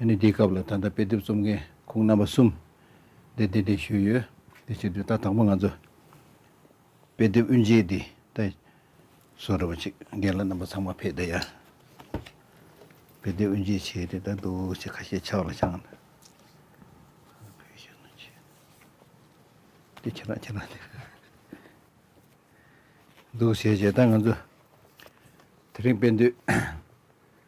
ཨ་ནི་དེའི་སྐབས་ལ་ད་ལྟ་དཔེ་དེབ་རྩོམ་མཁན་ཁོང་རྣམ་པ་གསུམ་དེ་བདེ་བདེ་ཞུས་ཡོད། དེ་ཕྱིར་དུས་ད་དང་པོ་ང་ཚོ་དཔེ་དེབ་དབུ་འབྱེད་དེ་ད་བཟོ་རེ་བ་ཅིག་རྒན་ལགས་རྣམ་པ་ཚང་མ་ཕེབས་ད་ཡར་དཔེ་དེབ་དབུ་འབྱེད་བྱས་དེ་ད་འདུག་ཅེས་ཁ་ཤས་ཕྱག་ལ་བཅངས། དེ་ཁྱེད་རང་ཁྱེད་རང་དེ། འདུག་བྱས་བྱས་ད་ང་ཚོ་དེ་རིང་དཔེ་འདུས།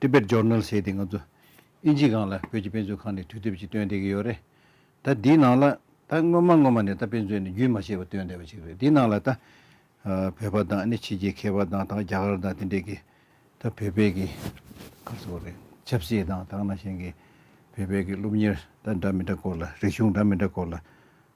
Tibet Journal ཞེས་དེ་ང་ཚོ་ཨིན་ཇི་སྒང་ལ་བོད་ཀྱི་དཔེ་མཛོད་ཁང་ནས་དུས་དེབ་ཅིག་བཏོན་བསྡད་ཀྱི་ཡོད་རེད་ད། འདིའི་ནང་ལ་ད་སྔོན་མ་སྔོན་མ་ནས་ད་དཔེ་མཛོད་ནས་རྒྱུན་མ་ཆད་པར་བཏོན་བསྡད་པ་ཅིག་རེད་འདིའི་ནང་ལ་ད། བོད་པ་དང་ནི་ཕྱི་རྒྱལ་མཁས་པ་དང་དང་རྒྱ་གར་དང་དེ་འདྲས་ཀྱིས་ད་བོད་པའི་གི་ག་ཚོད་རེད་ཆབ་སྲིད་དང་དང་ན་གཞན་གྱི་བོད་པའི་གི་སློབ་གཉེར་ད་འདྲ་མི་འདྲ་སྐོར་ལ་རིག་གཞུང་འདྲ་མི་འདྲ་སྐོར་ལ་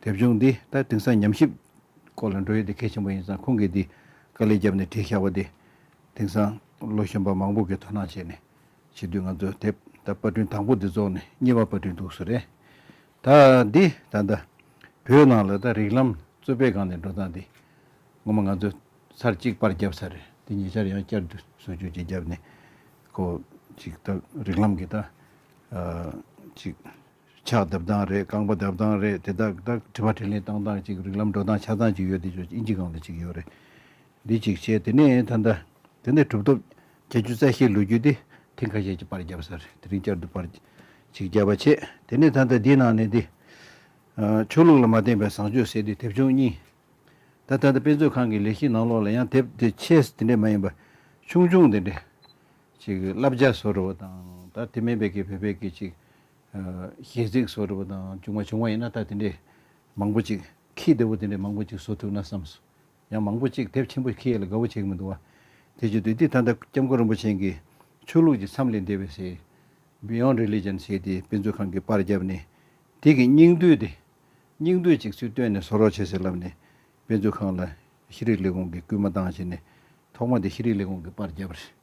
དེབ་ཆུང་འདི་ད་དེང་སང་ཉམས་ཞིབ་སྐོར་ལ་འགྲོ་ཡོད་དེ་གལ་ཆེན་པོ་ཡིན་ཙང་ཁོང་གིས་འདི་དཀའ་ལས་བརྒྱབ་ནས་བྲིས་བཞག་པ་འདི་དེང་སང་ལོ་གཞོན་པ་མང་པོ་གིས་དོ་སྣང་བྱས་ནས་བྱེད་དུས་ང་ཚོས་དེབ་ད་པར་སྐྲུན་དང་པོ་འདི་རྫོགས་ནས་གཉིས་པ་པར་སྐྲུན་འདུག་བཟོ་རེད། ད་འདི་ད་ལྟ་བོད་ནང་ལ་ད་རིགས་ལམ་གཙོས་པའི་སྒང་ནས་འགྲོ་སྟངས་འདི་ངོ་མ་ང་ཚོས་ཚར་གཅིག་པར་བརྒྱབ་ཚར་རེད་འདི་ཉེ་ཆར་ཡང་བསྐྱར་དུ་བཟོ་བཅོས་བྱེད་བརྒྱབ་ནས་ཁོ་ཅིག་ད་རིགས་ལམ་གྱི་ད་ཅིག། ཕྱག་བརྡབ་སྟངས་རེད་རྐང་པ་བརྡབ་སྟངས་རེད་དེ་དག་དག་དྲི་བ་དྲི་ལན་གཏང་སྟངས་ཅིག་རིག་ལམ་འགྲོ་སྟངས་ཆགས་སྟངས་ཅིག་ཡོད་དེ་ཆོག་ཨིན་ཇི་སྒང་ལ་ཅིག་ཡོད་རེད་འདི་ཅིག་བྱས་དེ་ནས་ད་ལྟ་དེ་འདྲ་གྲུབ་ཐོབ་བྱ་རྒྱུ་རྩ་ཤེའི་ལོ་རྒྱུས་དེ་ཐེངས་ཁ་ཤས་ཀྱི་པར་བརྒྱབས་ས་རེད་དེ་རིང་བསྐྱར་དུ་པར་ཅིག་བརྒྱབ་པ་བྱས་དེ་ནས་ད་ལྟ་འདིའི་ནང་ནས་འདི། ཆོས་ལུགས་ལ་མ་བརྟེན་པའི་བཟང་སྤྱོད་ཟེར་དུས་དེབ་ཆུང་གཉིས། ད་ད་ལྟ་དཔེ་མཛོད་ཁང་གི་ལས་གཞིའི་ནང་ལོགས་ལ་ཡང་དེབ་དེ་ཆེ་དེ་འདྲས་མ་ཡིན་པ་ཆུང་ཆུང་དེ་འདྲས་ཅིག་བསླབ་བྱ་བཟོ་རུ་བ་དང་ད་དེ་མེད་པའི་ཀྱི་བོད་པའི་ཀྱི་ཅིག་ཞེས་ཚིག་སོགས་བྲི་བ་དང་བྱུང་བ་བྱུང་བ་ཡིན་ན་ད་དེ་འདྲའི་མང་པོ་ཅིག་ཁྱིའི་རྡེའུ་བོ་དེ་འདྲའི་མང་པོ་ཅིག་བཟོ་ཐུབ་ན་བསམས་སོ། ཡང་མང་པོ་ཅིག་དེབ་ཆེན་པོ་ཁྱི་ཡིད་ལ་དགའ་བོ་བྱེད་ཀྱི་མི་འདུག་བ། དེ་བརྗོད་དུས་འདི་ད་ལྟ་སྐྱབས་མགོན་རིན་པོ་ཆེན་གྱི་ཆོས་ལུགས་ཀྱི་མཚམས་ལས་འདས་པའི་སྲིད། Beyond Religion། ཞེས་དེ་དཔེ་མཛོད་ཁང་གི་པར་བརྒྱབ་ནས་དེ་གི་སྙིང་བསྡུས་ཏེ་སྙིང་བསྡུས་ཅིག་ཚུལ་བཏོན་ནས་བཟོ་རོགས་བྱེད་ཟེར་ལབ་ནས་དཔེ་མཛོད་ཁང་ལ་ཤེས་རིག་ལས་ཁུངས་ཀྱི་སྐུལ་མ་བཏང་བྱས་ནས་ཐོག་མ་དེ་ཤེས་རིག་ལས་ཁུངས་ཀྱི་པར་བརྒྱབ་པ་རེད།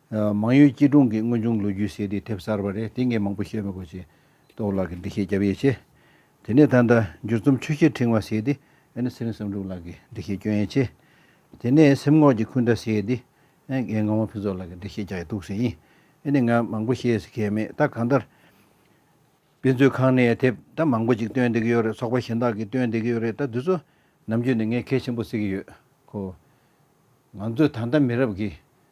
མང་ཡུལ་སྐྱིད་གྲོང་གི་དངོས་བྱུང་ལོ་རྒྱུས་ཟེར་དེ་དེབ་གསར་བ་རེད་དེ་ངས་མང་པོ་ཤེས་མེད་གོ་ཅེས་ཏོག་ལགས་ཀྱིས་འདྲི་བཤད་བརྒྱབ་ཡོད་ཆེ། དེ་ནས་ད་ལྟ་འགྱུར་རྩོམ་ཆུ་ཤེལ་ཕྲེང་བ་ཟེར་དེ་ཨེ་ན་ཚེ་རིང་བསམ་འགྲུབ་ལགས་ཀྱིས་འདྲི་བཤད་བསྐྱོན་ཡོད་ཆེ། དེ་ནས་སེམས་ངོགས་ཀྱི་འཁུན་སྒྲ་ཟེར་དེ་ཨེ་ངས་ངག་དབང་ཕུན་ཚོགས་ལགས་ཀྱིས་འདྲི་བཤད་རྒྱག་ཡོད་འདུག་ཟེར་ཡིན་ཨེ་ནས་ང་མང་པོ་ཤེས་ཟེར་མཁན་མེད་ད་གང་ལྟར། དཔེ་མཛོད་ཁང་ནས་དེབ་ད་མང་པོ་ཅིག་བཏོན་བསྡད་ཀྱི་ཡོད་རེད་ཚོགས་པ་གཞན་དག་གིས་བཏོན་བསྡད་ཀྱི་ཡོད་རེད་ད་དུས་ཚོད་ནམ་རྒྱུན་ནས་ངས་གལ་ཆེན་པོ་བསྲེག་གི་ཡོད་ཁོ། ང་ཚོས་ད་ལྟ་མི་རབས་ཀྱིས་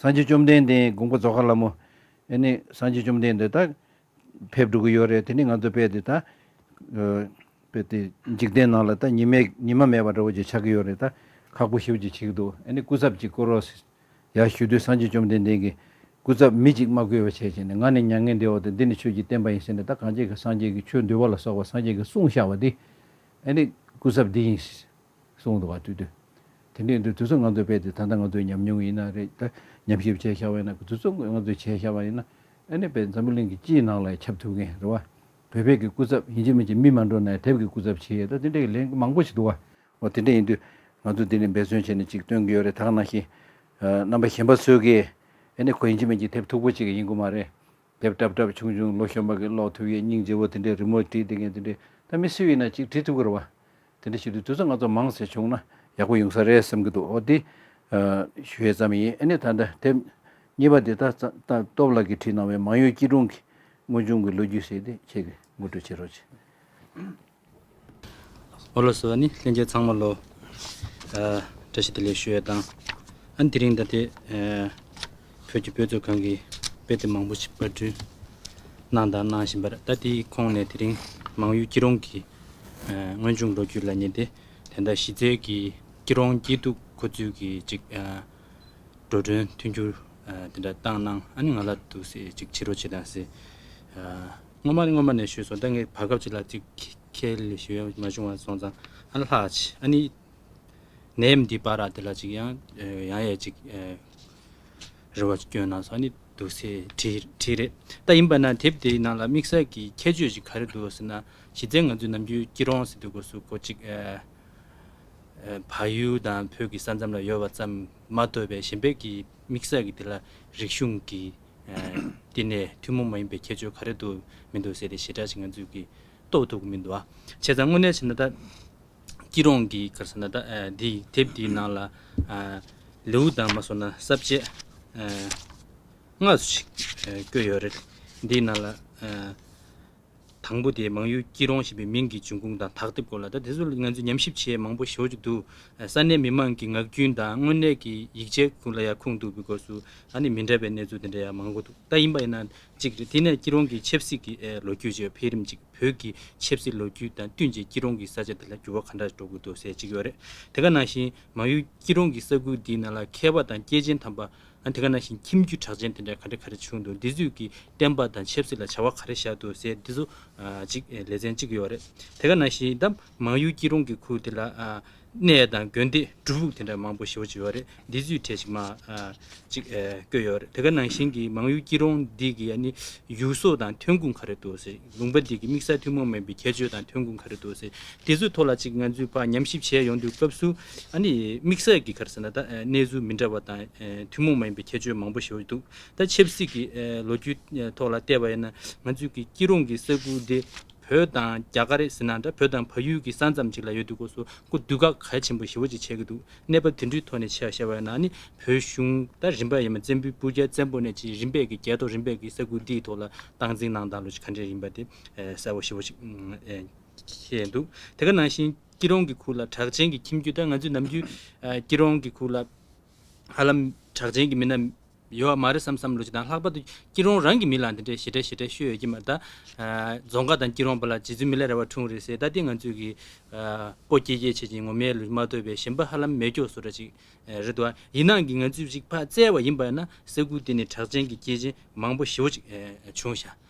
སངས་རྒྱས་བཅོམ་ལྡན་འདས་དགོངས་པ་རྫོགས་མཁར་ལམ་མོ། ཨེ་ནི་སངས་རྒྱས་བཅོམ་ལྡན་འདས་ད། ཕེབས་འགྲོ་གི་ཡོད་རེད་དེ་ནི་ང་ཚོའི་དཔེ་དེ་ད། དཔེ་དེ་འཇིག་རྟེན་ནང་ལ་ད་ཉི་མས་ཉི་མ་མེད་པ་འདྲ་བོ་ཅིག་ཆགས་ཀྱི་ཡོད་རེད་ད། ཁག་པོ་ཤིའུ་ཅིག་བྱེད་ཀྱི་འདུག་ཨེ་ནི་སྐུ་ཚབ་ཅིག་བསྐོས་རོགས། ཡར་ཞུ་དུས་སངས་རྒྱས་བཅོམ་ལྡན་འདས་ཀྱིས། སྐུ་ཚབ་མི་གཅིག་མ་བསྐོས་པ་བྱས་ཅེས་ནས་ང་ནི་མྱ་ངན་འདས་འོག་ཏུ་འདི་ནི་ཆོས་ཀྱི་བསྟན་པ་ཡིན་ཟེར་ནས་ད་གངས་ཅན་གྱི་སངས་རྒྱས་ཀྱི་ཆོས་འདུལ་བ་ལ་སོགས་པ་སངས་རྒྱས་ཀྱི་གསུང་བཤགས་པ་འདི། ཨེ་ནི་སྐུ་ཚབ་འདི་ཡིན། གསུངས་འདུག་བ་དུས་དུས། དེ་འདྲའི་འདུག་དུས་ཚོད་ང་ཚོས་བས་ཏེ་ད་ལྟ་ང་ཚོས་ཉམས་མྱོང་ཡིན་ན་རེད་ད་ཉམས་ཞིབ་བྱས་ཤག་བས་ན་དུས་ཚོད་ང་ཚོས་བྱས་ཤག་བ་ཡིན་ན་ཨ་ནི་བས་འཛམ་བུ་གླིང་གི་སྤྱིའི་ནང་ལ་ཁྱབ་ཐུབ་མཁན་རེད་བ། བོད་པའི་གི་སྐུ་ཚབ་ཡིན་གཅིག་མིན་གཅིག་མི་མ་འགྲོ་ན་ཡང་དེབ་གི་སྐུ་ཚབ་བྱེད་ད་དེ་འདྲའི་གི་ལན་མང་པོ་ཞིག་འདུག་བ། འོ་དེ་འདྲ་ཡིན་དུས་ང་ཚོས་དེ་ནས་འབད་བརྩོན་བྱས་ནས་ཅིག་སྟོན་གི་ཡོད་རེད་དག་ནང་བཞིན། རྣམ་པ་གཞན་པ་བཟོས་གི་ཨ་ནི་ཁོ་ཡིན་གཅིག་མིན་གཅིག་དེབ་མཐུག་པོ་ཅིག་གི་ཡིན་དགོས་མ་རེད། དེབ་བཀྲབ་བཀྲབ་བྱུང་བྱུང་ལོ་གཞོན་པ་གི་ཀློག་ཐུབ་ཡས་སྙིང་རྗེ་བོ་དེ་འདྲས་རི་མོ་བྲིས་དེ་ངས་དེ་འདྲས་ད་མི་སེ་བས་ན་ཅིག་བྲིས་ཐུབ་གི་རེད་བ། དེ་འདྲས་བྱེད་དུས་དུས་ཚོད་ང་ཚོ་མང་ཟེར་བྱུང་ན་ཡག་པོ་ཡོང་ས་རེད་བསམ་གི་འདུག་འོ་དེ། ཞུ་ཡས་ཙམ་ཡིན་ཨེ་ནས་ད་འདྲ་དེབ། གཉིས་པ་དེ་ད་སྟོབས་ལགས་ཀྱིས་བྲིས་གནང་བའི་མང་ཡུལ་སྐྱིད་གྲོང་གི་དངོས་བྱུང་གི་ལོ་རྒྱུས་ཟེར་དེ་ཁྱེད་ཀྱིས་ངོ་སྤྲོད་བྱེད་རོགས་བྱེད། ཨོ་ལོ་སོ་ནི་ལྷན་རྒྱས་ཚང་མ་ལོ། བཀྲ་ཤིས་བདེ་ལེགས་ཞུ་ཡ་དང། ཨ་འདི་རིང་ད་ལྟའི། བོད་ཀྱི་བོད་གཙོས་གང་གི་དཔེ་དེབ་མང་པོ་ཞིག་པར་སྐྲུན། གནང་དང་གནང་བཞིན་པར་ལྟ་དེའི་ཁོངས་ནས་དེ་རིང་མང་ཡུལ་སྐྱིད་རོང་གི། སྔོན་བྱུང་ལོ་རྒྱུས་ལ་ཉེ་སྟེ་དེ་ཟླ་བཞི་ཚེས་ཀྱི་སྐྱིད་རོང་སྐྱིད་སྡུག་ཁོ་ཚུལ་གྱི་ཅིག། འགྲོ་གྲོན་མཐུན་འགྱུར་དེ་འདྲ་བཏང་གནང་ཨ་ནི་ང་ལ་འདུག་སེ་ཅིག་ཕྱི་རོ་བྱེད་དང་སེ། སྔོན་མ་སྔོན་མ་ནས་ཞུས་སོང་ད་ངས་བར་སྐབས་གཅིག་ལ་གཅིག་ཁས་ལེན་ཞུ་ཡ་མ་བྱུང་བ་སོང་ཙང་ཨ་ལ་ལྷག་ཆེ་ཨ་ནི་ནད་འདི་པ་ར་འདི་ལ་གཅིག་ཡང་ཡང་ཡས་གཅིག་རེ་བ་བསྐྱོན་གནང་སོང་ཨ་ནི་འདུག་སེ་དྲིས་རེད་ད་ཡིན་པ་ན་དེབ་དེའི་ནང་ལ་དམིགས་བསལ་གྱི་ཁྱད་ཆོས་ཅིག་ག་རེ་འདུག་ཟེར་ན་གཞི་རྩའི་ང་ཚོའི་ནམ་རྒྱུན་སྐྱིད་རོང་སི་ཏུ་གོ་སུ་གོ་གཅིག་བ་ཡུལ་དང་བོད་ཀྱི་ས་མཚམས་ལ་ཡོད་པ་ཙམ་མ་གཏོགས་པའི་གཞན་ཕལ་གྱི་དམིགས་བསལ་གྱི་དེ་ལ་རིག་གཞུང་གི་འདི་ནས་ཐུན་མོང་མ་ཡིན་པའི་ཁྱད་ཆོས་ག་རེ་འདུག་མི་འདུག་ཟེར་ཏེ་ཞེ་དྲག་ཅིག་ང་ཚོས་ཀྱིས་རྟོགས་ཐུབ་ཀྱི་མི་འདུག་ཨ། བྱས་ཙང་དངོས་གནས་བྱས་ན་ད། སྐྱིད་རོང་གི་གར་ས་ན་ད་འདི་དེབ་འདིའི་ནང་ལ། ལེའུ་དང་མ་སོང་ན་ས་བཅད། ལྔ། ཞིག་བཀོད་ཡོད་རེད། འདིའི་ནང་ལ། དང་པོ་དེ་མང་ཡུལ་སྐྱིད་རོང་ཞེས་པའི་མིང་གི་འབྱུང་ཁུངས་དང་དག་སྡེབ་སྐོར་ལ་ད་དེ་ཚོ་ལ་ང་ཚོས་ཉམས་ཞིབ་བྱས་མང་པོ་ཞོར་གྱི་འདུག་ས་གནས་མི་མང་གི་ངག་རྒྱུན་དང་དངོས་གནས་ཀྱི་ཡིག་ཆའི་ཁུངས་ལ་ཡང་ཁུངས་གཏུགས་པའི་སྐོར་སུ་ད་ནི་མི་འདྲ་བའི་གནས་ཚུལ་དེ་འདྲ་ཡང་མང་པོ་འདུག་ད་ཡིན་པ་ཡིན་ན་གཅིག་རེད་དེ་ནས་སྐྱིད་རོང་གི་ཆབ་སྲིད་ཀྱི་ལོ་རྒྱུས་བཅས་འཕེལ་རིམ་གཅིག་བོད་ཀྱི་ཆབ་སྲིད་ལོ་རྒྱུས་དང་བསྟུན་རྗེས་སྐྱིད་རོང་གི་ས་ཆ་འདི་ལ་འགྱུར་བ་ག་འདྲ་འགྲོ་གི་འདུག་ཟེར་གཅིག་ཡོད་རེད་དེ་ག་ནང་བཞིན་མང་ཡུལ་སྐྱིད་རོང་གི་ས་ཁུལ་འདིའི་ནང་ལ་མཁས་པ་དང་སྐྱེས་ཆེན་དམ་པ་དེ་ག་ན་བཞིན་ཁྱིམ་རྒྱུད་གྲགས་ཅན་དེ་འདྲ་ག་རེ་ག་རེ་བྱུང་འདུག་འདི་ཚོས་ཀྱི་བསྟན་པ་དང་ཆབ་སྲིད་ལ་བྱ་བ་ག་རེ་བཞག་འདུག་ཟེར་འདི་ཚོ་ཅིག་ལེ་ཚན་གཅིག་ཡོད་རེད་དེ་ག་ན་བཞིན་ད་མང་ཡུལ་སྐྱིད་རོང་གི་ཁུལ་དེ་ལ་གནས་དང་དགོན་སྡེ་སྒྲུབ་ལུགས་དེ་འདྲ་མང་པོ་ཞེ་བོ་ཅིག་ཡོད་རེད་འདི་ཚོས་གྲས་ཅིག་མ་ཅིག་བསྐོས་ཡོད་རེད་དེ་ག་ན་བཞིན་གྱི་མང་ཡུལ་སྐྱིད་རོང་འདི་གི་ནི་ཡུལ་སྲོལ་དང་ཐོན་ཁུངས་ག་རེ་འདུག་ཟེར་ལུང་པ་འདི་གི་དམིགས་བསལ་ཐུན་མོང་མིན་པའི་ཁྱད་ཆོས་དང་ཐོན་ཁུངས་ག་རེ་འདུག་ཟེར་འདི་ཚོའི་ཐོག་ལ་ཅིག་ང་ཚོས་བར་ཉམས་ཞིབ་བྱས་ཡོང་དུས་སྐབས་སུ་ཨ་ནི་དམིགས་བསལ་གྱི་ག་རེ་ཟེར་ན་ད་གནས་ཚུལ་མི་འདྲ་བ་དང་ཐུན་མོང་མ་ཡིན་པའི་ཁྱད་ཆོས་མང་པོ་ཞིག་ཡོད་འདུག་ད་ཆབ་སྲིད་ཀྱི་ལོ་རྒྱུས་ཐོག་ལ་བལྟས་པ་ཡིན་ན་ང་ཚོའི་གི་སྐྱིད་རོང་གི་ས་ཁུལ་འདི་བོད་དང་རྒྱ་ག་རེ་ཟེར་ན་འདྲ་བོད་དང་ཕ་ཡུལ་གྱི་ས་མཚམས་ཅིག་ལ་ཡོད་འདུག་གོ་སོ་ཀུ་བདུད་ག་གལ་ཆེན་པོ་ཞེ་བོ་ཅིག་བྱས་ཀྱི་འདུག་གནས་བབ་དེ་འདྲུའི་ཐོག་ནས་ཆ་བཤད་པ་ཡིན་ན་ཨ་ནི་བོད་གཞུང་ད་རིམ་པ་ཡིན་མ་བཙན་པོའི་སྤུར་རྒྱལ་བཙན་པོ་ནས་ཅིག་རིམ་པས་ཀྱི་རྒྱལ་ཐོག་རིམ་པས་ཀྱི་ས་ཁུལ་འདིའི་ཐོག་ལ་སྟངས་འཛིན་གནང་སྟངས་ལོ་རྒྱུས་ག་འདྲས་ཡིན་པ་དེ་གསལ་བོ་ཞེ་བོ་ཅིག་ཤེས་འདུག་དེ་ག་ནང་བཞིན། སྐྱིད་རོང་གི་ཁུག་ལ་གྲགས་ཅན་གྱི་ཁྱིམ་རྒྱུད་དང་ང་ཚོའི་ནམ་རྒྱུན། སྐྱིད་རོང་གི་ཁུག་ལ། ཧ་ལམ། གྲགས་ཅན་གྱི་མི་སྣ། ཡོད་བ་མ་རེད་བསམ་བསམ་བློ་ཅི་དང་ལྷག་པར་དུ་སྐྱིད་རོང་རང་གི་མི་ལ་འདི་འདྲའི་ཞེ་དྲག་ཞེ་དྲག་ཤོད་ཡོད་ཀྱི་མ་རེད་ད། རྫོང་ཁག་དང་སྐྱིད་རོང་བར་ལ་རྗེ་བཙུན་མི་ལ་རེ་བ་འཁྲུངས་རེད་ཟེར་ད་དེ་ང་ཚོས་གི། སྤོ་སྐྱེལ་སྐྱེལ་བྱེད་ཅིང་ངོ་མའི་ལུས་མ་དོར་བའི་ཞེན་པ་ཧ་ལམ་མེད་སྐྱོ་བཟོ་འདྲ་ཅིག་རེད་དོ། ཡིན་ནའང་གི་ང་ཚོས་རིག་པ་བཙལ་བ་ཡིན་པ་ཡིན་ན་ས་ཁུལ་དེ་ནས་གྲགས་ཅན་གྱི་སྐྱེས་ཆེན་མང་པོ་ཞེ་བོ་ཅིག་བྱུང་ཤག་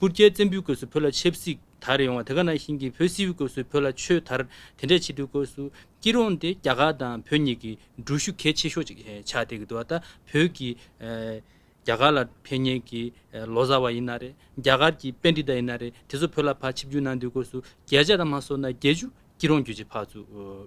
པུར་རྒྱལ་བཙན་པོའི་སྐོས་སུ་བོད་ལ་ཆབ་སྲིད་དར་ཡོང་བ་དེ་ག་ནང་བཞིན་གྱི་བོད་སིལ་བུའི་སྐོས་སུ་བོད་ལ་ཆོས་དར་དེ་འདྲས་ཆེ་དུས་སྐོས་སུ་སྐྱིད་རོང་དེ་རྒྱ་གར་དང་བོད་གཉིས་ཀྱི་འགྲུལ་བཞུད་གལ་ཆེ་ཤོས་ཅིག་ཆགས་བསྡད་ཀྱི་འདུག་ད་བོད་ཀྱི་རྒྱ་གར་ལ་ཕན་ཉེན་གྱི་ལོ་ཟ་བ་ཡིན་ན་རེད་རྒྱ་གར་གྱི་དཔེ་འདི་ལྟ་ཡིན་ན་རེད་དེ་ཚོ་བོད་ལ་ཕར་ཆིབས་རྒྱུ་གནང་དུས་སྐོས་སུ་རྒྱལ་ཆ་དང་མ་སོ་ན་རྒྱལ་ཆུ་སྐྱིད་རོང་རྒྱུད་ཀྱི་ཕག་ཚུ་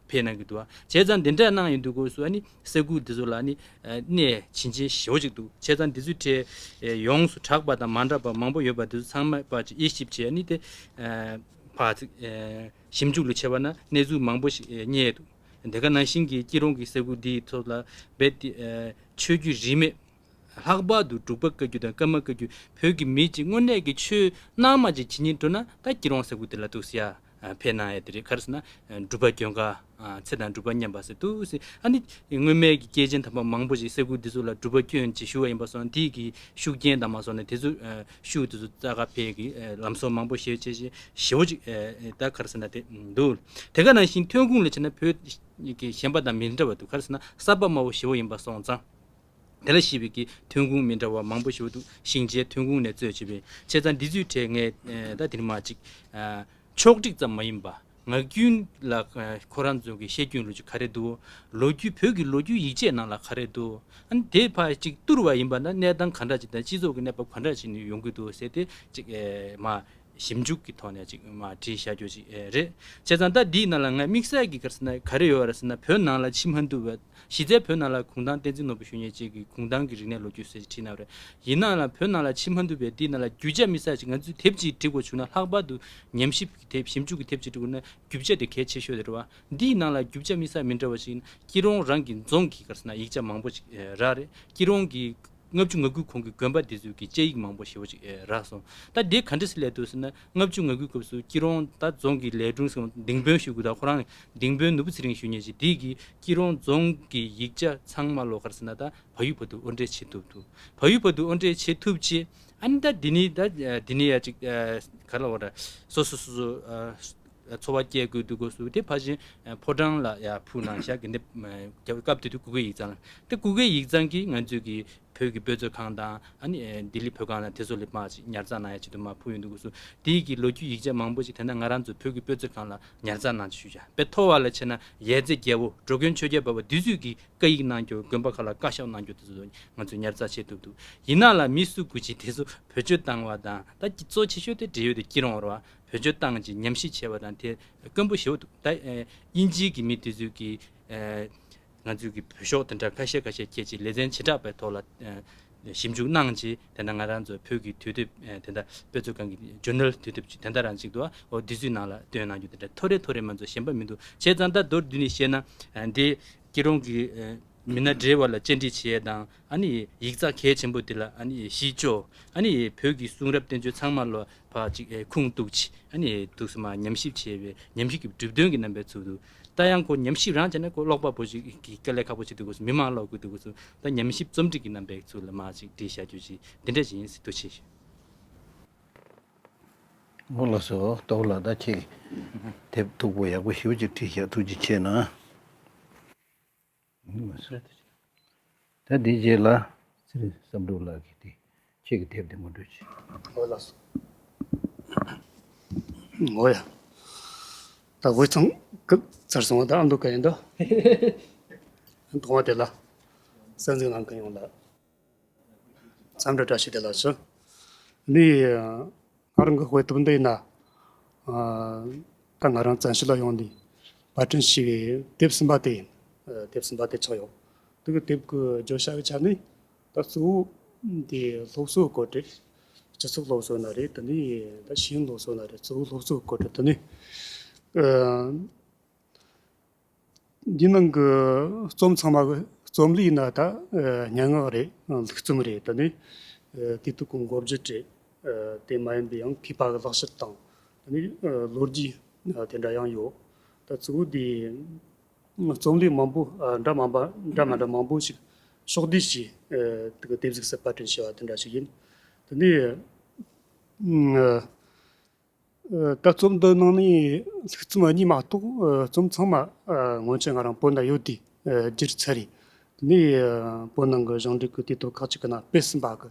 བས་གནང་གི་འདུག་ཨ་བྱས་ཙང་འདི་འདྲ་གནང་ཡི་འདུག་གོ་སུ་ཨ་ནི་ས་ཁུལ་འདི་ཚོ་ལ་ནི་གནས་བྱིན་ཅན་ཞེ་བོ་ཅིག་འདུག་བྱས་ཙང་འདི་ཚོའི་གྲས་ཡོངས་སུ་གྲགས་པ་དང་མ་འདྲ་བ་མང་པོ་ཡོད་པ་འདི་ཚོ་ཚང་མ་པ་ཅི་དབྱེ་ཞིབ་བྱས་ཨ་ནི་དེ་བར་ཞིབ་འཇུག་ལུས་ཆེ་བ་ན་གནས་ཚུལ་མང་པོ་ཞིག་རྙེད་འདུག་དེ་ག་ནང་བཞིན་གྱི་སྐྱིད་རོང་གི་ས་ཁུལ་འདི་ཚོ་ལ་རྦད་དེ་ཆོས་བརྒྱུད་རིས་མེད་ལྷག་པར་དུ་འབྲུག་པ་བཀའ་བརྒྱུད་དང་ཀརྨ་བཀའ་བརྒྱུད་བོད་ཀྱི་མི་གཅིག་དངོས་གནས་ཀྱི་ཆོས་སྣང་མ་ཅིག་ཇི་སྙེད་འགྲོ་ན་ད་སྐྱིད་རོང་ཟེར་དགུ་དེ་ལ་ཐུག་སི་ཡ་ཕེ་གནང་ཡ་དེ་རེད་ག་རེ་ཟེར་ན་འབྲུག་པ་གྱོན་ག་ཚེ་དང་འབྲུག་པ་མཉམ་པ་ཟེར་དུ་སི་ཨ་ནི་དངོས་མེད་ཀྱི་སྐྱེས་ཆེན་དམ་པ་མང་པོ་ཞིག་སེ་གུ་འདི་ཚོ་ལ་འབྲུག་པ་སྐྱོན་ཅིག་ཞུ་བ་ཡིན་པ་སོང་དེ་གི་ཤུགས་རྐྱེན་དང་མ་སོང་ནས་དེ་ཚོ་ཤུགས་དེ་ཚོ་རྩ་ག་ཕེ་གི་ལམ་སོགས་མང་པོ་ཞེ་བྱས་ཞེ་ཞེ་བོ་ཅིག་ད་ག་རེ་ཟེར་ན་དེ་འདུག་དེ་ག་ནང་བཞིན་ཐོན་ཁུངས་ལས་བྱས་ན་བོད་ཀྱི་གཞན་པ་དང་མི་འདྲ་བ་འདུག་ག་རེ་ཟེར་ན་ས་བབ་དམའ་བོ་ཞེ་བོ་ཡིན་པ་སོང་ཙང། དེ་ལ་ཞིབ་ཀྱི་ཐོན་ཁུངས་མི་འདྲ་བ་མང་པོ་ཞིག་འོག་ཏུ་ཞིང་ཆའི་ཐོན་ཁུངས་ནས་གཙོས་བྱས་པའི་ཆེ་ཚ་འདི་ཚོའི་གྲས་ངས་ད་དེར་མ་གཅིག། ཕྱོགས་བསྒྲིགས་ཙམ་མ་ཡིན་པ། ངག་རྒྱུན་ལ་ཁོ་རང་ཚོ་གི་བཤད་རྒྱུན་ལོ་རྒྱུས་ག་རེ་འདུག་ལོ་རྒྱུས་བོད་ཀྱི་ལོ་རྒྱུས་ཡིག་ཆའི་ནང་ལ་ག་རེ་འདུག་ཨ་ནི་དེ་ཕ་གཅིག་བསྟུར་བ་ཡིན་པ་ན་གནས་སྟངས་ག་འདྲ་ཅིག་དང་སྤྱི་ཚོགས་ཀྱི་གནས་བབ་ག་འདྲ་ཞིག་ནས་ཡོང་གི་འདུག་ཟེར་ཏེ་གཅིག་མ་ཞིབ་འཇུག་གི་ཐོག་ནས་ཅིག་མ་དྲིས་བཞག་རྒྱུ་ཅིག་རེད། བྱས་ཙང་ད་འདིའི་ནང་ལ་ང་དམིགས་བསལ་གྱིས་ཀར་སེ་ག་རེ་ཡོད་ར་ཟེར་ན་བོད་ནང་ལ་ཕྱི་མ་འདུལ་བའི་གཞི་རྩའི་བོད་ནང་ལ་གུང་ཐང་བསྟན་འཛིན་ནོར་བུ་ཞུ་ཉེ་བཅས་ཀྱི་གུང་ཐང་གི་རིག་གནས་ལོ་རྒྱུས་ཟེར་ཅིག་བྲིས་གནང་བ་རེད། ཡིན་ནའང་ལ་བོད་ནང་ལ་ཕྱི་མ་འདུལ་བའི་འདིའི་ནང་ལ་རྒྱུ་ཆ་དམིགས་བསལ་ཅིག་ང་ཚོས་དེབ་ཅིག་འབྲི་དགོས་བྱུང་ན་ལྷག་པར་དུ་ཉམས་ཞིབ་ཀྱི་དེབ་ཞིབ་འཇུག་གི་དེབ་ཅིག་འབྲི་དགོས་ན་རྒྱུ་ཆ་དེ་གལ་ཆེ་ཤོས་རེད་བ། འདིའི་ནང་ལ་རྒྱུ་ཆ་དམིགས་བསལ་མི་འདྲ་བ་ཞིག་ཡིན་ན་སྐྱིད་རོང་རང་གི་རྫོང་གི་ཀར་སེ་ན་ཡིག་ཆ་མང་པོ་ཅིག་རག་རེད་སྐྱིད་རོང་གི་ལྔ་བཅུ་ང་དགུའི་གོང་གི་དགོན་པ་འདི་ཚོས་ཀྱི་དཔྱད་ཡིག་མང་པོ་ཞེ་བོ་ཅིག་རག་སོང། ད་དེ་ག་འདྲ་སི་ལས་འདུག་ཟེར་ན་ལྔ་བཅུ་ང་དགུའི་སྐབས་སུ་སྐྱིད་རོང་ད་རྫོང་གི་ལས་དྲུང་སོང་སྡིངས་དཔོན་ཞུ་དགོས་དང་ཁོ་རང་སྡིངས་དཔོན་ནུ་བོ་ཚེ་རིང་ཞུ་ཉེ་ཅིག་དེས་ཀྱི་སྐྱིད་རོང་རྫོང་གི་ཡིག་ཆ་ཚང་མ་ལོག་ཁར་ཟེར་ན་ད་བག་ཡུ་བོ་དུ་དབོར་འདྲེ་བྱེད་ཐུབ་འདུག་བག་ཡུ་བོ་དུ་དབོར་འདྲེ་བྱེད་ཐུབ་ཅེས་ཨ་ནི་ད་དེ་ནི་ད་དེ་ནི་ཡ་ཅིག་ག་ལ་འོ་ར་སོ་སོ་སོ་སོ། འཚོ་བ་སྐྱེལ་དགོས་འདུག་གོ་སུ་དེ་ཕ་ཆེན་ཕོ་བྲང་ལ་ཡ་ཕུ་ནང་བཞག་གི་འདེབས་རྒྱབ་ཀྱི་སྐབས་དེ་དུས་གུ་གེ་ཡིག་ཚང་དེ་གུ་གེ་ཡིག་ཚང་གིས་ང་ཚོས་ཀྱི་བོད་ཀྱི་དཔེ་མཛོད་ཁང་དང་ཨ་ནི་ལྡི་ལི་བོད་ཁང་ལ་དེ་ཚོ་ལས་མར་ཅིག་ཉར་ཚགས་གནང་ཡ་ཆེད་དུ་མར་ཕུལ་ཡོད་འདུག་གོ་སུ་དེའི་གི་ལོ་རྒྱུས་ཡིག་ཆ་མང་པོ་ཅིག་དེ་ན་ང་རང་ཚོ་བོད་ཀྱི་དཔེ་མཛོད་ཁང་ལ་ཉར་ཚགས་གནང་ཆེད་ཞུས་ཡ་བས་ཐོ་བ་ལ་ཕྱེ་ན་ཡས་རྩེ་རྒྱལ་བོ་འགྲོ་མགོན་ཆོས་རྒྱལ་བབས་པ་དུས་ཚོད་ཀྱི་བཀའ་ཡིག་གནང་རྒྱུ་དགོན་པ་ཁག་ལ་བཀའ་ཤག་གནང་རྒྱུ་དེ་ཚོ་ང་ཚོས་ཉར་ཚགས་བྱེད་ཐུབ་འདུག་ཡིན་ན་ལ་མི་སུ་གུ་ཅིག་དེ་ཚོ་བོད་ཆོས་བཏང་བ་དང་ད་གི་གཙོ་ཆེ་ཤོས་དེ་འབྲེལ་ཡོད་དུ་བསྐྱིལ་རོང་བར་བ་བོད་བརྒྱུད་ཏང་གི་ཉམས་ཞིབ་བྱས་པ་དང་དེ་སྐམ་པོ་ཞེ་བོ་འདུག་ད། དབྱིན་ཇིའི་གི་མི་དེ་ཚོས་གི། ང་ཚོའི་གི་བོད་ཤོག་དེ་འདྲ་ཁ་ཤས་ཁ་ཤས་ཁྱེར་ཅིག་ལེ་ཚན་བྱེ་བྲག་པའི་ཐོག་ལ། ཞིབ་འཇུག་གནང་ཅིག་དེ་འདྲ་ང་རང་ཚོ་བོད་གི་དུས་དེབ་དེ་འདྲ་དཔེ་ཚོགས་ཁང་གི Journal དུས་དེབ་དེ་འདྲ་རང་ཅིག་ཏུ་འོ་དེ་ཚོའི་ནང་ལ་བཏོན་གནང་རྒྱུ་དེ་འདྲ་ཐོ་རེ་ཐོ་རེ་མ་ཚོ་ཞན་པ་མི་འདུག་བྱས་ཙང་ད་མདོར་བསྡུས་ནས་བཤད་ན། འདི་སྐྱིད་རོང་གི་མི་སྣ་སྦྲེལ་བ་ལ་བཅར་འདྲི་བྱས་དང། ཡིག་ཚགས་གལ་ཆེན་པོ་འདི་ལ་གཞི་བཅོལ། བོད་ཀྱི་གསུང་རབ་བསྟན་བཅོས་ཚང་མ་ལོ་བ་གཅིག་ཁུངས་གཏུགས། ཐུགས་སུ་མ་ཉམས་ཞིབ་བྱས་པའི་ཉམས་ཞིབ་ཀྱི་གྲུབ་དོན་གྱི་རྣམ་པའི་ཚུལ་དུ། ད་ཡང་ཁོ་ཉམས་ཞིབ་རང་བྱས་ན་ཁོ་ཀློག་པ་པོ་ཞིག་གི་དཀའ་ལས་ཁག་པོ་ཆགས་འདུག་གོ་མི་མང་ཀློག་དགོས་འདུག་གོ་ད་ཉམས་ཞིབ་རྩོམ་སྒྲིག་གི་རྣམ་པའི་ཚུལ་ལ་མ་ཅིག་བྲིས་བཞག་རྒྱུ་ཞིག་འདི་འདྲ་ཞིག་ཡིན་སྲིད་དོ་ཆེ་ཞེ། ངོ་ལོག་སོ་ཏོག་ལ་ད་ཁྱེད་དེབ་སྟུག་པོ་ཡག་པོ་ཞིབ་ཅིག་བྲིས་བཞག་ཐུགས་རྗེ་ཆེ་ན། ད་དེའི་རྗེས་ལ། ཚེ་རིང་བསམ་འགྲུབ་ལགས་ཀྱིས་དེ་ཁྱེད་ཀྱི་དེབ་དེ་ངོ་སྤྲོད་བྱས། ངོ་ལ་སོང། ངོ་ཡ། ད་དགོད་ཚང་སྐབས་ཚར་སོང་བ་ད་ཨ་མདོ་ག་ཡིན་ད། ཨ་མདོ་དེ་ལ་གསར་འཛུགས་གནང་གི་ཡོང་ལ། མཚམས་འདྲི་བཀྲ་ཤིས་བདེ་ལགས་སུ། འདི་ཡི་སྔར་འགོད་དཔེ་དེབ་འདི་ཡིན། ད་ང་རང་བཙན་ཤེད་ལ་ཡོང་འདུག་བར་ཕྲན་ཞིག་གི་དེབ་གསུམ་པ་དེ་ཡིན། དེབ་གསུམ་པ་དེ་ཆགས་ཡོད་འདུག་དེབ་གི་བརྗོད་བྱ་ཡི་ཆ་ནས་ད་གཙོ་བོ་དེ་སློབ་གསོའི་བཀོད་སྒྲིག། སྤྱི་ཚོགས་སློབ་གསོ་ན་རེད་དེ་ནས་ད་ཤེས་ཡོན་སློབ་གསོ་ན་རེད་གཙོ་བོ་སློབ་གསོའི་བཀོད་སྒྲིག་དེ་ནི། འདིའི་ནང་གི་རྩོམ་ཚང་མ་རྩོམ་ལུས་ནི་ད་སྙན་ངག་རེད་ལུགས་རྩོམ་རེད་དེ་ནི་དུས་ཐུག་གི་འགོ་བརྗོད་རེད་དེ་མ་ཡིན་པའི་ཡང་མཁས་པ་གི་ལག་བཤད་དང་དེ་ནི་ལོ་རྒྱུས་དེ་འདྲ་ཡང་ཡོད་ད་གཙོ་བོ་དེ་རྩོམ་ལུས་མང་པོ་འདྲ་མ་འདྲ་མང་པོ་ཞིག་ཕྱོགས་བསྡུས་ཀྱིས་དེ་གི་དེབ་གཟིགས་སུ་པར་སྐྲུན་བྱས་པ་དེ་འདྲ་ཞིག་ཡིན་དེ་ནི་ད་རྩོམ་འདི་གནང་ནས་ཚིག་རྩོམ་གཉིས་མ་གཏོགས་རྩོམ་ཚང་མ་སྔོན་ཆད་ང་རང་བོད་ནང་ཡོད་དུས་སྒྱུར་ཚར་རེད། དེ་ནས་བོད་ནང་གི་ཞིང་འབྲོག་གི་དུས་སྟོན་ཁག་ཅིག་གི་ནང་སྤེལ་ཟིན་པ་གི་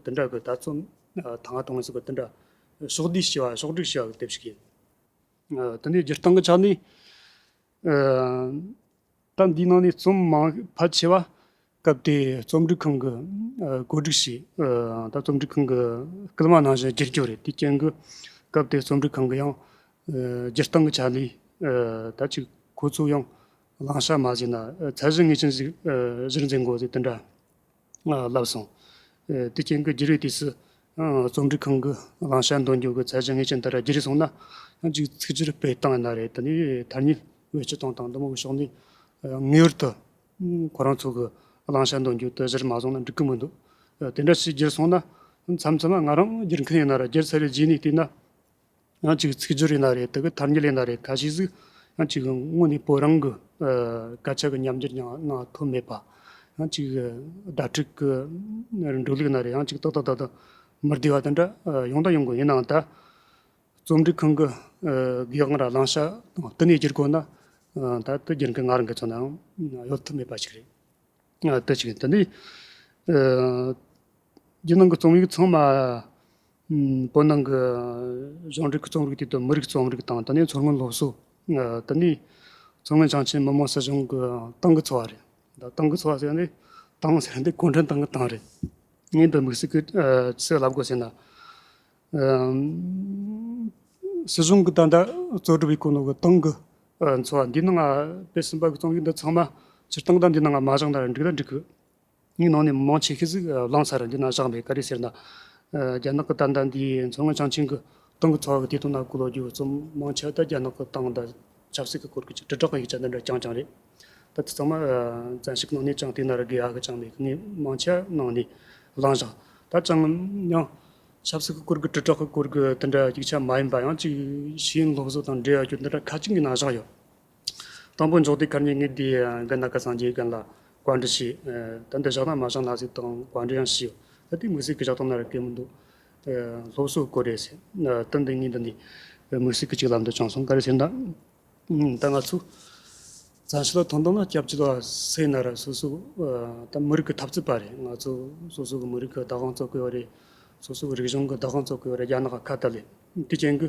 དེ་འདྲ་གི་ད་རྩོམ་ད་སྔ་གཏོང་ཟིན་པ་དེ་འདྲ་ཕྱོགས་བསྡུས་བྱས་པ་ཕྱོགས་བསྒྲིགས་བྱས་པ་གི་དེབ་ཞིག་ཡིན། དེ་ནས་སྒྱུར་སྟངས་ཀྱི་ཆ་ནས། སྐབས་འདིའི་ནང་ནས་རྩོམ་མང་ཕལ་ཆེ་བ་སྐབས་དེའི་རྩོམ་སྒྲིག་ཁང་གི་བཀོད་སྒྲིག་བྱས། ད་རྩོམ་སྒྲིག་ཁང་གི་སྐུལ་མ་གནང་བཞིན་བསྒྱུར་རྒྱུ་རེད་དེའི་རྐྱེན་གྱིས་སྐབས་དེའི་རྩོམ་སྒྲིག་ཁང་གི་ཡང་སྒྱུར་སྟངས་ཀྱི་ཆ་ནས་ད་ཅིག་ཁོ་ཚོའི་ཡང་བླང་བྱ་མ་བཟོས་ན་ཚད་གཞི་ངེས་ཅན་ཞིག་གཞིར་འཛིན་དགོས་ཚེ་དེ་འདྲ། བསླབས་སོང། དེ་རྐྱེན་གྱིས་རྒྱུ་རིགས་དུས་སུ་རྩོམ་སྒྲིག་ཁང་གི་བླང་བྱ་འདོན་རྒྱུ་གི་ཚད་གཞི་ངེས་ཅན་དེར་བསྒྱུར་སོང་ན། གཅིག་ཚིག་སྤྱིར་སྤེལ་བཏང་ཡོད་ན་རེད་དེ་ནི་དར་ཉིལ་བའི་སྤྱི་སྟངས་དང་འདུ་མ་བུའི་ཕྱོགས་འདུས། ངེས་པར་དུ་ཁོ་རང་ཚོ་གི་བླང་བྱ་འདོན་རྒྱུ་དེ་གཞིར་མ་བཟུང་ན་འགྲིག་གི་མི་འདུག་དེ་འདྲ་ཞིག་བསྒྱུར་སོང་ན། མཚམས་མཚམས་ལ་ང་རང་བསྒྱུར་མཁན་ཡིན་ན་རེད་བསྒྱུར་ཚར་བའི་རྗེས་ནས་བལྟས་ན། ཡང་ཅིག་ཚིག་སྦྱོར་ཡིན་ན་རེད་དེ་གི་ཐ་སྙད་ལེན་ན་རེད་ག་ཤེད་ཟིག་ཡང་ཅིག་དངོས་ནས་བོད་རང་གི་སྐད་ཆ་གི་ཉམས་འགྱུར་ཡང་གནང་ཐུབ་མེད་པ། ཡང་ཅིག་བརྡ་ཕྲུག་གི་འགྲོ་ལུགས་ཡིན་ན་རེད་ཡང་ཅིག་ཏག་ཏག་ཏག་ཏག་མི་བསྡུ་བ་དེ་འདྲ་ཡོང་དང་ཡོང་དགོས་ཡིན་ནའང་ད་རྩོམ་སྒྲིག་ཁང་གི་དགེ་དབང་ར་གླང་ཤག་དང་དེ་ནས་བསྒྱུར་དགོས་ན་ད་དེ་བསྒྱུར་མཁན་ང་རང་གིས་ཚོ་ནའང་ཡོད་ཐུབ་མེད་པ་ཞིག་རེད། དེ་གཅིག་ཡིན་དེ་ནས་རྒྱུ་ནང་གི་རྩོམ་ཡིག་ཚང་མ་བོད་ནང་གི་གཞུང་འབྲེལ་གྱི་རྩོམ་རིག་དེ་དང་མི་རིགས་རྩོམ་རིག་དང་དེ་ནས་མཚོ་སྔོན་སློབ་གསོ། དེ་ནས་མཚོ་སྔོན་བྱང་ཆིངས་མི་དམངས་སྲིད་གཞུང་གི་ཏང་གི་འཚོ་བ་རེད། ཏང་གི་འཚོ་བ་ཟེར་ནི་ཏང་ཟེར་འདི་གུང་ཁྲན་ཏང་གི་ཏང་རེད། ངས་འདི་དམིགས་བསལ་གྱི་ཚིག་ལབ་དགོས་ཟེར་ན། སྲིད་གཞུང་གི་ད་ལྟ་གཙོ་སྒྲུབ་ཡིག་སྐུ་ནང་གི་ཏང་གི་འཚོ་བ་འདི་ནང་སྤེལ་ཟིན་པ་གྱི་རྩོམ་ཡིག་འདི་ཚང་མ་སྤྱིར་བཏང་ད་འདི་ནང་མ་བཞག་ན་འགྲིག་ན་འགྲིག་གི། སྙིང་ནང་ནས་མི་མང་ཆེ་ཤོས་ཟིག་བླངས་ཚར་འདི་ན་བཞག་འདི་ག་རེ་ཟེར་ན། རྒྱ་ནག་གི་ཏར་འདར་འདིའི་མཚོ་སྔོན་བྱང་ཆིངས་ཀྱི་ཏང་གི་ཚོགས་ཀྱི་སྟེང་དུ་ན་སྐུ་ལོ་རྒྱུ་རྩོམ་མང་ཆེ་བ་ད་རྒྱ་ནག་གི་ཏང་དང་ཆབ་སྲིད་ཀྱི་སྐོར་གྱི་དྲིལ་བསྒྲགས་ཀྱི་ཡིག་ཆ་འདི་འདྲ་རྐྱང་རྐྱང་རེད། ད་དེ་ཚང་མ་བཙན་ཤུགས་གནང་ནས་ཅང་ཏེ་ན་རེ་དགེ་ཡག་གི་ཅང་མེད་གི་ངས་མང་ཆེ་བ་གནང་ནས་བླངས་བཞག་ད་ཅང་མྱང། ཆབ་སྲིད་ཀྱི་སྐོར་གྱི་དྲིལ་བསྒྲགས་ཀྱི་སྐོར་གྱི་དེ་འདྲ་ཡིག་ཆ་མ་ཡིན་པ་ཡང་གཅིག་ཤེས་ཡོན་སློབ་གསོ་དང་འབྲེལ་ཡོད་རྒྱུ་འདི་འདྲ་ཁ་ཅིག་གི་ན་བཞག་ཡོད། དང་པོ་འཇོག་དུས་སྐར་ཉིན་ངེད་དེའི་རྒན་ནཱ་ག་སངས་རྒྱས་རྒན་ལ་བཀའ་འདྲི་བྱས། ད་འདིར་བཞག་དང་མ་བཞག་ནག་གཟིགས་དང་བཀའ་འདྲི་ཡང་བྱས། ད་དེའི་མིག་ཟུང་གི་བཞག་སྟངས་ན་རེ་སྐལ་མི་འདུག། སློབ་གསོ་སྐོར་རེད་ཟེར། ད་འདི་ངེད་འདི་ནས་མིག་ཟུང་གི་གཅིག་ལམ་དུ་བྱང་སོང་ག་རེ་ཟེར་ན། ད་ང་ཚོས་བཙན་ཤེད་ལ་དོན་དག་ལ་སྐྱབས་བཅོལ་བ་ཟེར་ན་རེ་སོ་སོའི་ད་མི་རིགས་ཀྱི་འཐབ་རྩོད་པ་རེད་ང་ཚོ་སོ་སོ་གི་མི་རིགས་ཀྱི་བདག་དབང་རྩོད་དགོས་པ་རེད། སོ་སོ་གི་རིག་གཞུང་གི་བདག་དབང་རྩོད་དགོས་པ་རེད་རྒྱ་ནག་གི་ཁ་བཏགས་ལས་དེ་ཅན་གྱི།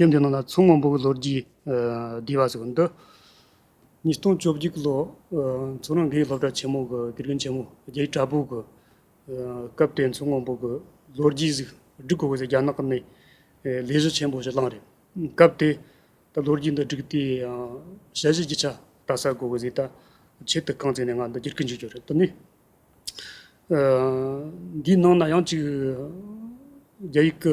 སྟན་དེ་ནང་ན་མཚོ་སྔོན་པོའི་ལོ་རྒྱུས་ལྡེ་བ་ཟེར་བ་འདི། ཉིས་སྟོང་བཅོ་བརྒྱད་ཀྱི་ལོ་མཚོ་རང་གི་སློབ་གྲྭ་ཆེན་མོ་གི་དགེ་རྒན་ཆེན་མོ་རྒྱལ་གྲྭ་པོ་གི་སྐབས་དེ་མཚོ་སྔོན་པོ་གི་ལོ་རྒྱུས་གཟིགས་སྒྲིག་དགོས་པའི་རྒྱ་ནག་ནས་ལས་གཞི་ཆེན་པོ་ཞིག་བླངས་རེད། སྐབས་དེ་ད་ལོ་རྒྱུས་འདི་བསྒྲིགས་དུས་ཡང་དཔྱད་གཞི་རྒྱུ་ཆ་བལྟ་ས་དགོས་པའི་གཟིགས་ད་ཆེད་དུ་རྐང་བཙུགས་ནས་ང་འདི་བསྒྱུར་གི་འཇུག་རྒྱུ་རེད་དེ་ནི། འདིའི་ནང་ན་ཡང་གཅིག་རྒྱ་ཡིག་གི་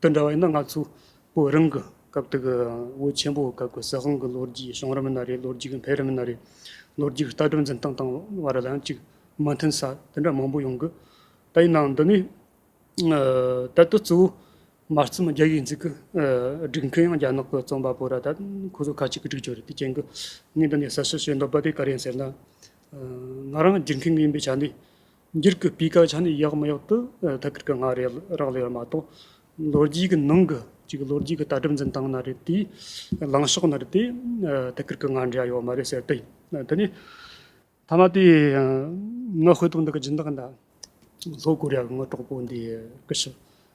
དེ་འདྲ་བ་ཡིན་ན་ང་ཚོ་བོད་རང་གི་སྐབས་དེ་གི་བོད་ཆེན་པོ་སྐབས་ཀྱི་ཟི་ཧོང་གི་ལོ་རྒྱུས་བྱུང་རབས་མི་སྣ་རེད་ལོ་རྒྱུས་ཀྱི་འཕེལ་རིམ་མི་སྣ་རེད། ལོ་རྒྱུས་ཀྱི་ལྟ་གྲུབ་འཛིན་སྟངས་དང་བ་ར་ལ་ཡང་ཅིག་མ་མཐུན་ས་དེ་འདྲ་མང་པོ་ཡོང་གི། ད་ཡིན་ནའང་འདི་ནས་ད་ལྟ་གཙོ་བོ་མ་རྩོམ་རྒྱ་ཡིག་འཛིན་གི་སྒྲིག་མཁན་ཡང་རྒྱ་ནག་གི་རྩོམ་པ་པོ་ར་ད་ཁོ་ཚོ་ཁ་ཅིག་གི་སྒྲིག་ཆོག་རེད་དེ་རྐྱེན་གྱི་ངས་འདི་ནས་གསལ་བཤད་བྱེད་འདོད་པ་དེ་ག་རེ་ཡིན་ཟེར་ན། ང་རང་སྒྲིག་མཁན་ཡིན་པའི་ཆ་ནས་འགྱུར་གྱི་སྤུས་ཀ་ཆ་ནས་ཡག་མི་ཡག་ཏུ་ཐད་ཀར་གྱི་སྔ་རེད་རག་ལས་པ་མ་གཏོགས། ལོ་རྒྱུས་ཀྱི་ནང་གི་ཅིག་ལོ་རྒྱུས་ཀྱི་ལྟ་གྲུབ་འཛིན་སྟངས་ན་རེད་དེ། ལངས་ཕྱོགས་ན་རེད་དེ། ཐད་ཀར་གྱི་སྔ་འགྲོས་ཡང་ཡོད་མ་རེད་ཟེར་དུས། དེ་ནི། ཐ་མ་དེ། ངའི་དཔེ་དེབ་འདི་ག་སྦྱིན་བདག་འདྲ། ལྷོ་ཀོ་རི་ཡ་གྱི་དངོས་གྲོགས་པོ་འདི་སྐུ་ཞབས།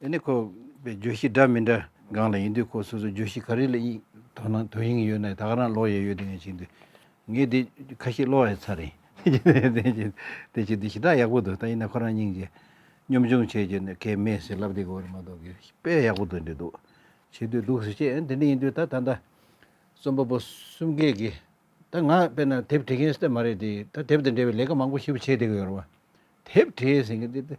དེ་ནི་ཁོ་པའི་བརྗོད་གཞི་འདྲ་མི་འདྲ་སྒང་ལ་ཡིན་དུས་ཁོ་སོ་སོའི་བརྗོད་གཞི་ག་རེ་ལ་ཡིད་དོ་སྣང་དོན་སྙིང་ཡོད་ནའི་དག་རང་ལོག་ཡས་ཡོད་དེ་ངས་བྱིན་དུས། ངས་དེ་ཁ་ཤས་ལོག་ཡས་ཚར་རེད། དེ་བྱིན་དེ་བྱིན་དུས་ཞི་དྲག་ཡག་པོ་འདུག་ད་ཡིན་ན་ཁོ་རང་སྙིང་རྗེ། གཉོམ་ཆུང་བྱེད་རྒྱུ་ནི་གལ་མེད་ཟེར་ལབ་དེ་གོ་རེ་མ་གཏོགས་གི་དཔེ་ཡག་པོ་འདུག་འདྲི་འདུག་བྱེད་དུས་འདུག་ཟེར་ཁྱེད་དེ་འདྲ་ཡིན་དུས་ད་ད་ལྟ་རྩོམ་པ་པོ་གསུམ་གས་གི་ད་ང་དཔེར་ན་དེབ་བྲི་མཁན་སྟབས་མ་རེད་དེ་ད་དེབ་དང་འབྲེལ་བའི་ལས་ཀ་མང་པོ་ཞིབ་བྱས་དེ་གི་ཡོད་རེད་བ། དེབ་བྲིས་ཟེར་གི་འདི་ད།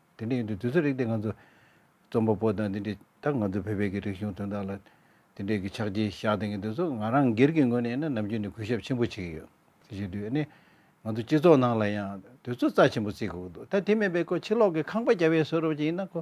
དེ་འདྲ་ཡིན་དུས་དུས་ཚོད་རིགས་དེ་ང་ཚོ་རྩོམ་པ་པོ་དང་དེ་འདྲས་ད་ང་ཚོ་བོད་པའི་གི་རིག་གཞུང་དོན་དག་ལ་དེ་འདྲས་གི་ཕྱག་རྗེས་བཞག་དེ་གི་དུས་སུ་ང་རང་སྒེར་གི་ངོས་ནས་ནི་ནམ་རྒྱུན་ནི་གུས་ཞབས་ཆེན་པོ་བྱེད་གི་ཡོད། ཅི་ཞིག་དུས་ནི་ང་ཚོ་སྤྱི་ཚོགས་ནང་ལ་ཡང་དུས་ཚོད་རྩ་ཆེན་པོ་རྩི་དགོས་གི་འདུག་ད་དེ་མེད་པའི་ཁོ་ཕྱི་ལོག་གི་ཁང་པ་རྒྱ་བས་བཟོས་རོགས་ཀྱི་ཡིན་ན་ཁོ།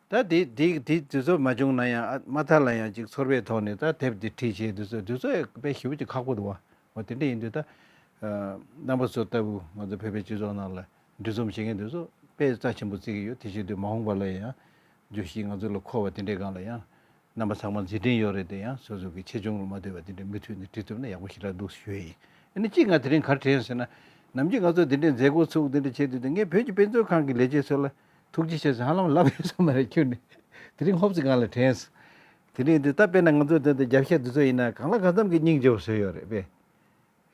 ད་དེ་དེ་དུས་ཚོད་མ་བྱུང་ན་ཡང་ཨ་མ་ཐར་ལ་ཡང་ཅིག་ཚོར་བའི་ཐོག་ནས་ད་དེབ་དེ་བྲིས་བྱས་དུས་ཚོད་དུས་ཚོད་ཡག་པའི་ཞི་བུ་ཅིག་ཁག་པོ་འདུག་བ་ཧོ་དེ་འདྲ་ཡིན་དུས་ད། རྣམ་པ་ཚོ་ལྟ་བུ་ང་ཚོ་བོད་པའི་སྤྱི་ཚོགས་ནང་ལ་འདུས་འཛོམས་བྱེད་མཁན་དེ་ཚོ་དཔེ་རྩ་ཆེན་པོ་བརྩི་གི་ཡོད་དེ་བྱས་དུས་མ་འོངས་པ་ལ་ཡང། བརྗོད་གཞི་ང་ཚོ་ལ་མཁོ་བ་དེ་འདྲའི་སྒང་ལ་ཡང། རྣམ་པ་ཚང་མ་མཛེས་དྲིན་ཡོད་རེད་དེ་ཡང་སོ་སོ་གིས་ཆེ་ཆུང་ལ་མ་ལྟོས་པར་དེ་འདྲའི་མུ་མཐུད་ནས་བྲིས་ཐུབ་ན་ཡག་པོ་ཞེ་དྲག་འདུག་ཞུ་ཡི་ཡིན་ཨ་ནི་གཅིག་ང་དེ་རིང་གར་དྲན་ཟེར་ན། ནམ་རྒྱུན་ང་ཚོ་དེ་འདྲའི་མཛད་སྒོ་ཚུགས་འདི་འདྲ་བྱས་དུས་དེ་སྔའི་བོད་ཀྱི་དཔེ་མཛོད་ཁང་གི་ལས་བྱེད་ཚོ་ལ། ཐུགས་རྗེ་ཆེ་ཟེར་ཧ་ལམ་ལབ་ཡོད་ས་མ་རེད་ཁྱོད་ནི། དེ་རིང་ཧོབ་ཙི་གང་ལ་དྲན། དེ་རིང་འདི་ལྟ་དཔེར་ན་ང་ཚོའི་དོན་དུ་རྒྱབ་ཤ་འདི་ཚོ་ཡིན་ན་གང་ལ་གང་འཚམ་གྱི་སྙིང་རྗེ་བོ་བཟོས་ཡོད་རེད་པས།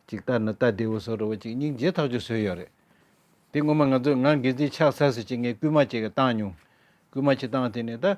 གཅིག་ལྟར་ན་རྟ་རྡེའུ་བཟོ་རུ་བ་གཅིག་སྙིང་རྗེ་ཐག་ཆོད་བཟོས་ཡོད་རེད། དེ་སྔོན་མ་ང་ཚོས་ངང་སྒལ་ཚིགས་ཆགས་ས་སུ་གཅིག་ངས་བསྐུལ་མ་གཅིག་བཏང་མྱོང། བསྐུལ་མ་གཅིག་བཏང་དེ་ནས་ད།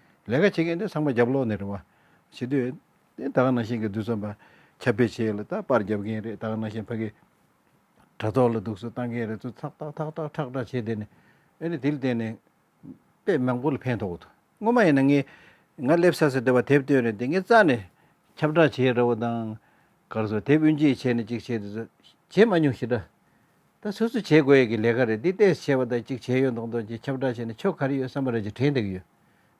ལས་ཀ་བྱེད་མཁན་དེ་ཚང་མ་རྒྱབ་ལོག་ནས་རེད་བ། བྱེད་དུས། དེ་ད་ག་ནང་བཞིན་གྱི་རྡུལ་ཚོན་པ། ཁྱབ་སྤེལ་བྱེད་ཡུལ་ལ་ད་པར་རྒྱབ་མཁན་རེད་ད་ག་ནང་བཞིན་ཕ་གི། དྲ་ཐོག་ལ་དུག་སུལ་བཏང་མཁན་རེད་ཚུལ་ཐག་ཐག་ཐག་ཐག་ཁྲག་ཁྲག་བྱེད་བསྡད་ནས། ཨེ་རེད་དེ་ལ་བརྟེན་ནས། དཔེ་མང་པོ་ལ་ཕན་ཐོགས་འདུག་སྔོན་མ་ཡིན་ན་ངས། ང་སླེབས་ས་སུ་དེ་བ་དེབ་སྟོན་རེད་དེ་ངས་རྩ་ནས། ཁྱབ་བསྒྲགས་བྱས་ར་བ་དང། གར་སོང་དེབ་དབུས་འབྱེད་བྱས་ནས་ཅིག་བྱས་དེ་ཚོ། བྱས་མ་མྱོང་ཞེ་དྲག། ད་སོ་སོས་བྱེད་དགོས་ཡས་ཀྱི་ལས་ཀ་རེད་འདི་ལྟས་བྱས་པ་དག་ཅིག་བྱས་ཡོད་མདོག་མདོག་ཅིག་ཁྱབ་བསྒྲགས་བྱས་ནས་ཆོ་ག་རེ་ཡོད་བསམ་པ་རེ་ཅིག་དྲན་བསྡད་ཀྱི་ཡོད་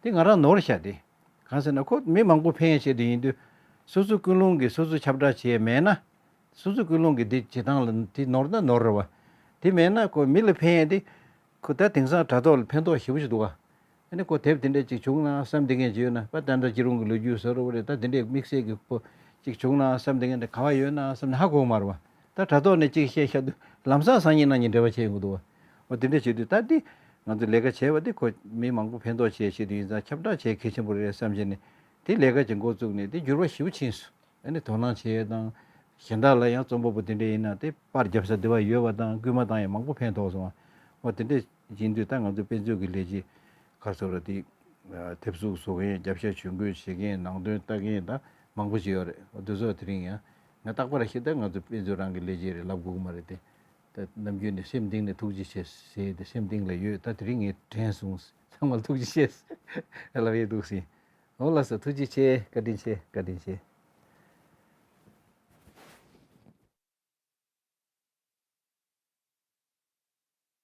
འདི་ང་རང་ནོར་བཞག་སྟེ། གང་ཟེར་ན་ཁོ་མི་མང་པོ་ཕན་ཡས་བྱེད་དུ་ཡིན་དུས། སོ་སོའི་ཀུན་སློང་གིས་སོ་སོས་ཁྱབ་བསྒྲགས་བྱས་མེད་ན། སོ་སོའི་ཀུན་སློང་གིས་འདི་བྱེད་སྟངས་ལ་དེ་ནོར་ན་ནོར་རེད་བ། དེ་མེད་ན་ཁོ་མི་ལ་ཕན་ཡས་ཏེ། ཁོ་ད་དེང་སང་དྲ་ཐོག་ལ་ཕན་ཐོག་ཞེ་པོ་ཞིག་འདུག་ག། ཨ་ནི་གོ་དེབ་དེ་འདྲ་ཅིག་བྱུང་ན་བསམ་དེ་ངས་བྱོས་ན་ཕ་ད་འདྲ་ཅི་རུང་གི་ལོ་རྒྱུས་ཟེར་བ་རེད་ད་དེ་འདྲའི་དམིགས་བསལ་གི་པོ་ཅིག་བྱུང་ན་བསམ་དེ་ངས་འདྲ་ག་བ་ཡོད་ན་བསམ་ནས་ཧ་གོ་མར་བ་ད་དྲ་ཐོག་ནས་ཅིག་བཤད་ཤག་དུས་ལམ་སང་སང་ཉིན་གནང་ཉིན་འབྲེལ་བ་བྱས་ཡོང་གི་འདུག་བ་དེ་འདྲ་བྱེད་དུས་ད་དེ་ང་ཚོས་ལས་ཀ་བྱས་བ་དེ་ཁོ་མི་མང་པོ་ཕན་ཐོག་ཆེད་བྱེད་དུས་ཡིན་ཙང་ཁྱབ་བསྒྲགས་བྱས་གལ་ཆེན་པོ་རེད་བསམ་བྱས་ནས་དེ་ལས་ཀ་བྱེད་འགོ་བཙུགས་ནས་དེ་འགྱུར་བ་ཞིའུ་ཆིན་སུ་ཨ་ནི་དོ་སྣང་བྱས་ཡོད་དང་གཞན་དག་ལ་ཡང་རྩོམ་པ་པོ་དེ་འདྲ་ཡིན་ན་དེ་པར་རྒྱབ་ས་དེ་བ་ཡོད་བ་དང་སྐུལ་མ་བཏང་ཡང་མང་པོ་ཕན་ཐོག་སོང་བ་བ་དེ་འདྲས། ཅིང་དུས་ལྟར་ང་ཚོའི་དཔེ་མཛོད་ཀྱི་ལས་བྱེད་ཁ་གསབ་ར་དེ་ཐེབས་གཟུགས་བཟོ་མཁན་རྒྱབ་ཤ་ཇུས་འགོད་བྱེད་མཁན་ནང་དོན་ལྟ་མཁན་དང་མང་པོ་ཞིག་ཡོད་རེད་འོ་དོལ་ཚོགས་དེ་རིང་ཡང་ང་རྟག་པར་ཤེས་ལྟར་ང་ཚོའི་དཔེ་མཛོད་རང་གི་ལས་བྱེད་རེད་ལབ་དགོས་ཀྱི་མ་རེད་དེ། ད་ནམ་རྒྱུན་ནས་སེམས་གཏིང་ནས་ཐུགས་རྗེ་ཆེ་ཟེར་དེ་སེམས་གཏིང་ལ་ཡོད་ད་དེ་རིང་ངས་དྲན་སོང་ཚང་མར་ཐུགས་རྗེ་ཆེ་ཟེར་ལབ་ཡས་འདུག་སྲིད་འོ་ལགས་སོ་ཐུགས་རྗེ་ཆེ་བཀའ་དྲིན་ཆེ་བཀའ་དྲིན་ཆེ།